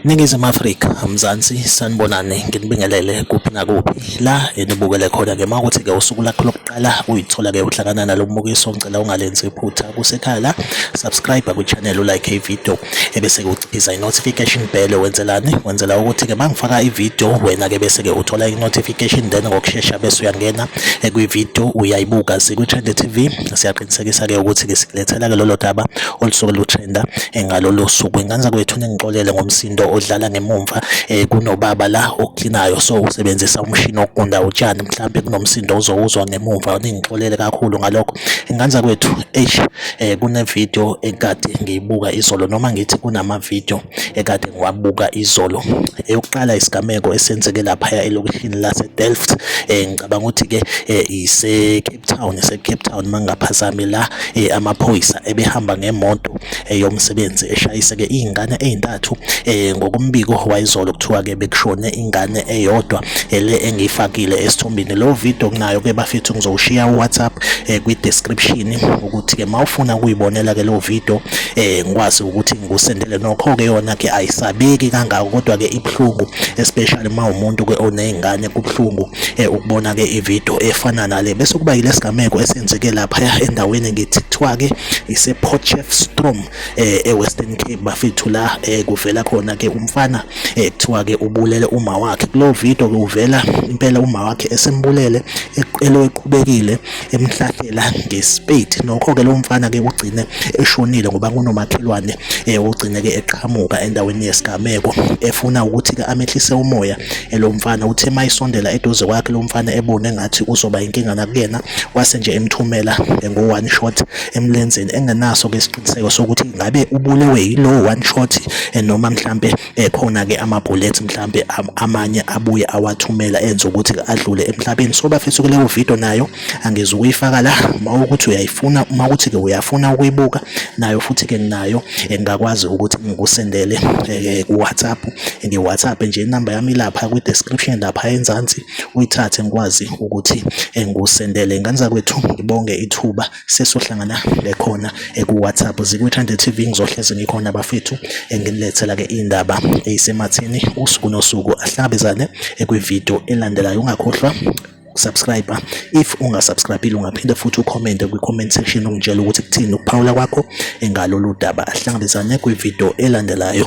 Ningizimu Afrika, Mzansi, sanibonani, nginibingelele kuphi nakuphi la enibukele khona ke makuthi ke usuku lakho lokuqala uyithola ke uhlangana nalo mbukiso ngicela ungalenzi iphutha kusekhala subscribe ku channel u like i video ebese uciphiza i-notification bell wenzelani wenzela ukuthi-ke uma ngifaka i-video wena-ke bese-ke uthola i-notification then ngokushesha bese uyangena kwi-video uyayibuka sikwi-trend tv siyaqinisekisa-ke ukuthi-ke sikulethela-ke lolo daba olusuke lutrenda ngalolo suku ingane zakwethu ningixolele ngomsindo odlala ngemumva um kunobaba la oklinayo so usebenzisa umshini wokugunda utshani mhlawumbe kunomsindo ozowuzwa ngemumva ningixolele kakhulu ngalokho ingane zakwethu eish eh kunevideo ekade ngiyibuka izolo noma ngithi kunamavideo ekade ngiwabuka izolo eyokuqala isigameko esenzeke laphaya elokishini laseDelft eh ngicabanga ukuthi ke eh, ise Cape Town ise Cape Town mangaphazami la eh, amaphoyisa ebehamba ngemoto eh, yomsebenzi eshayiseke izingane ezintathu ngokumbiko wayizolo kuthiwa ke bekushone ingane eyodwa ele engiyifakile esithombini lo video kunayo ke bafethu ngizowushiya uWhatsApp eh, kwi description ukuthi ke mawufuna ukuyibonela ke lo video eh ngikwazi ukuthi ngikusendele nokho ke yona ke ayisabeki kangaka kodwa ke ibhlungu especially uma umuntu ke onezingane kubhlungu eh, ukubona ke ivideo efana nale bese kuba yilesigameko esenzeke lapha endaweni ngithi kuthiwa ke ise Potchefstroom eh eWestern Cape bafethu la eh kuvela khona ke umfana eh kuthiwa ke ubulele uma wakhe kulo video ke uvela impela uma wakhe esembulele eqelo eqhubekile emhlahlela ngespade nokho ke lo mfana ke ugcine eshonile ngoba kunomakhelwane eh ugcine ke eqhamuka endaweni yesigameko efuna ukuthi ke amehlise umoya elo eh, mfana uthe mayisondela eduze kwakhe lo mfana ebone ngathi uzoba inkinga nakuyena wase nje emthumela eh, ngo one shot emlenzeni engenaso ke isiqiniseko sokuthi ngabe ubulewe yilowo one shot eh, noma mhlambe ekhona eh, ke ama bullets mhlambe amanye abuye awathumela enza ukuthi adlule emhlabeni so bafethu kuleyo video nayo angize ukuyifaka la uma ukuthi uyayifuna uma ukuthi ke uyafuna ukuyibuka nayo futhi ke nginayo engakwazi eh, ukuthi ngikusendele ku WhatsApp ngi WhatsApp nje inamba yami lapha kwi description lapha enzansi uyithathe ngikwazi ukuthi eh, ngusendele ingane zakwethu ngibonge ithuba sesohlangana lekhona eh, ku-whatsapp zikwithande tv ngizohlezi ngikhona bafethu eh, nginilethela-ke indaba eyisemathini usuku nosuku ahlangabezane kwividiyo elandelayo ungakhohlwa subscribe if ungasubscribile ungaphinde futhi ucommente kwi-comment section ungitshela ukuthi kuthini ukuphawula kwakho engalolu daba ahlangabezane kwividiyo elandelayo